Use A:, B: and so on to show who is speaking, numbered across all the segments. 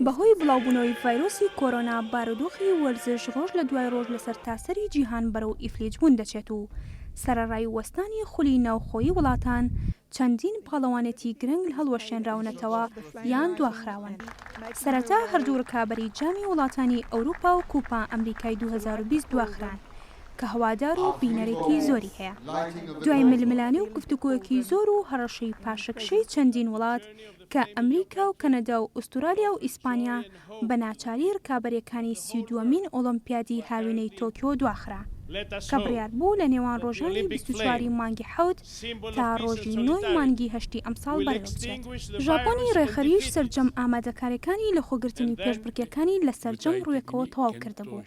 A: بەهۆی بڵاوبوونەوەی
B: ڤایرۆسی کۆرۆنا بارودۆخی وەرزش ڕۆژ لە دوای ڕۆژ لە سەرتاسەری جیهان بەرەو ئیفلیجبوون دەچێت و سەرەڕای وەستانی خولی ناوخۆیی وڵاتان چەندین پاڵەوانێتی گرنگ هەڵوەشێنراونەتەوە یان دواخراون. سەرەتا هەردوو ڕکابەری جامی وڵاتانی ئەوروپا و کوپا ئەمریکای دوو هەزار و بیست دواخران، کە هەوادار و بینەرێکی زۆری هەیە. دوای ململانێ و گفتوگۆیەکی زۆر و هەڕەشەی پاشەکشەی چەندین وڵات کە ئەمریکا و کەنەدا و ئوستورالیا و ئیسپانیا بە ناچاری رکابەرێکانی سی و دووەمین ئۆڵۆمپیادی هاوینەی تۆکیۆ دواخرا کە بڕیار بوو لە نێوان رۆژانی بیست و چوار ی مانگی حەوت تا رۆژی نۆ ی مانگی هەشتی ئەمساڵ بەڕێوەبچێت. ژاپۆنی رێکخەریش سەرجەم ئامادەکاریەکانی لەخۆگرتنی پێشبڕکێکانی لە سەرجەم رووێکەوە تەواو کردبوو.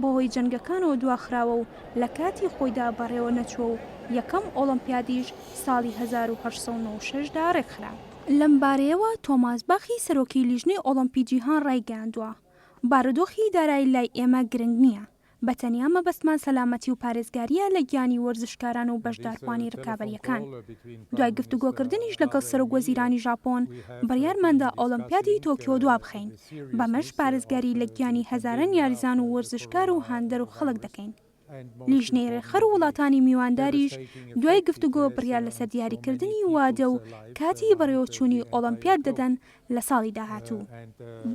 B: بەهۆی جەنگەکانەوە دواخراوە و لە کاتی خۆیدا بەڕێوە نەچووە و یەکەم ئۆڵۆمپیادیش ساڵی هەزار و هەشت سەد و نۆ و شەش دا رێکخرا. لەم بارەیەوە تۆماس باخی سەرۆکی لیژنەی ئۆڵۆمپی جیهان رایگەیاندووە، بارودۆخی دارایی لای ئێمە گرنگ نییە، بە تەنیا مەبەستمان سەلامەتی و پارێزگارییە لە گیانی وەرزشکاران و بەشداربووانی رکابەرییەکان. دوای گفتوگۆکردنیش لەگەڵ سەرۆکوەزیرانی ژاپۆن، بڕیارماندا ئۆڵۆمپیادی تۆکیۆ دوابخەین. بەمەش پارێزگاری لە گیانی هەزاران یاریزان و وەرزشکار و هاندەر و خەڵک دەکەین. لیژنەی رێکخەر و وڵاتانی میوانداریش دوای گفتوگۆ بڕیار لەسەر دیاریکردنی وادە و کاتی بەڕێوەچوونی ئۆڵەمپیاد دەدەن لە ساڵی داهاتوو.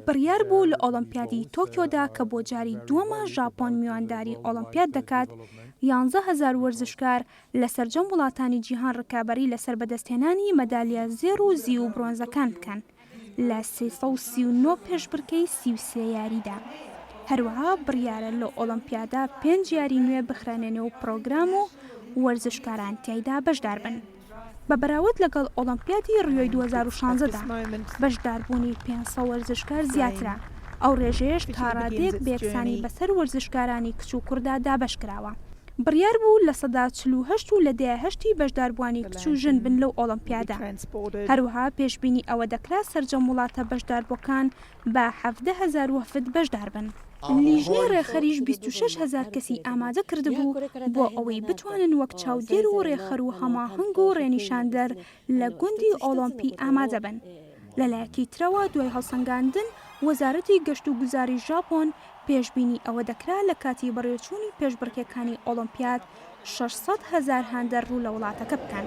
B: بڕیار بوو لە ئۆڵەمپیادی تۆکیۆدا کە بۆ جاری دووەمە ژاپۆن میوانداری ئۆڵەمپیاد دەکات، یانزە هەزار وەرزشکار لە سەرجەم وڵاتانی جیهان رکابەری لەسەر بەدەستهێنانی مەدالیا زێڕ و زیو و برۆنزەکان بکەن. لە سێ سەد و سی و نۆ پێشبڕکێی سی و سێ یاریدا. هەروەها بڕیارە لەو ئۆڵۆمپیادە پێنج یاری نوێ بخرێنە نێو پڕۆگرام و وەرزشکاران تیایدا بەشداربن. بە بەراورد لەگەڵ ئۆڵۆمپیادی ڕیۆی دوو هەزار و شانزە دا، بەشداربوونی پێنج سەد وەرزشکار زیاترە، ئەو ڕێژەیەش تاڕادەیەک بە یەکسانی بەسەر وەرزشکارانی کچ و کوڕدا دابەشکراوە. بڕیار بوو لە سەدا چل و هەشت و لە دەیە هەشتی بەشداربووانی کچ و ژن بن لەو ئۆڵەمپیادە، هەروەها پێشبینی ئەوە دەکرا سەرجەم وڵاتە بەشداربووەکان بە حەڤدە هەزار وەفد بەشدار بن. لیژنەی ڕێکخەریش بیست و شەش هەزار کەسی ئامادە کردبوو بۆ ئەوەی بتوانن وەک چاودێر و ڕێکخەر و هەماهەنگ و ڕێنیشاندەر لە گوندی ئۆڵۆمپی ئامادە بن. لەلایەکی ترەوە دوای هەڵسەنگاندن، وەزارەتی گەشتوگوزاری ژاپۆن پێشبینی ئەوە دەکرا لە کاتی بەڕێوەچوونی پێشبڕکێکانی ئۆڵۆمپیاد شەش سەد هەزار هاندەر ڕوو لە وڵاتەکە بکەن،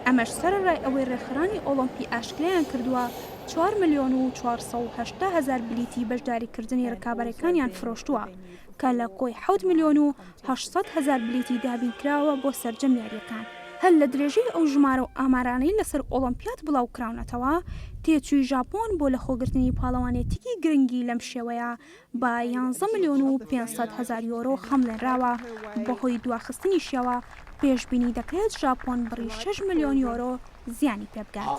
B: ئەمەش سەرەڕای ئەوەی ڕێکخرانی ئۆڵۆمپی ئاشکرایان کردووە چوار ملیۆن و چوار سەد و هەشتا هەزار بلیتی بەشداریکردنی ڕکابەرەکانیان فرۆشتووە کە لە کۆی حەوت ملیۆن و هەشت سەد هەزار بلیتی دابینکراوە بۆ سەرجەم یارییەکان، هەر لە درێژەی ئەو ژمارە و ئامارانەی لەسەر ئۆڵۆمپیاد بڵاوکراونەتەوە، تێچووی ژاپۆن بۆ لەخۆگرتنی پاڵەوانێتیی گرنگی لەم شێوەیە بە یانزە ملیۆن و پێنج سەد هەزار یۆرۆ خەمڵێنراوە، بەهۆی دواخستنیشیەوە پێشبینی دەکرێت ژاپۆن بڕی شەش ملیۆن یۆرۆ زیانی پێبگات.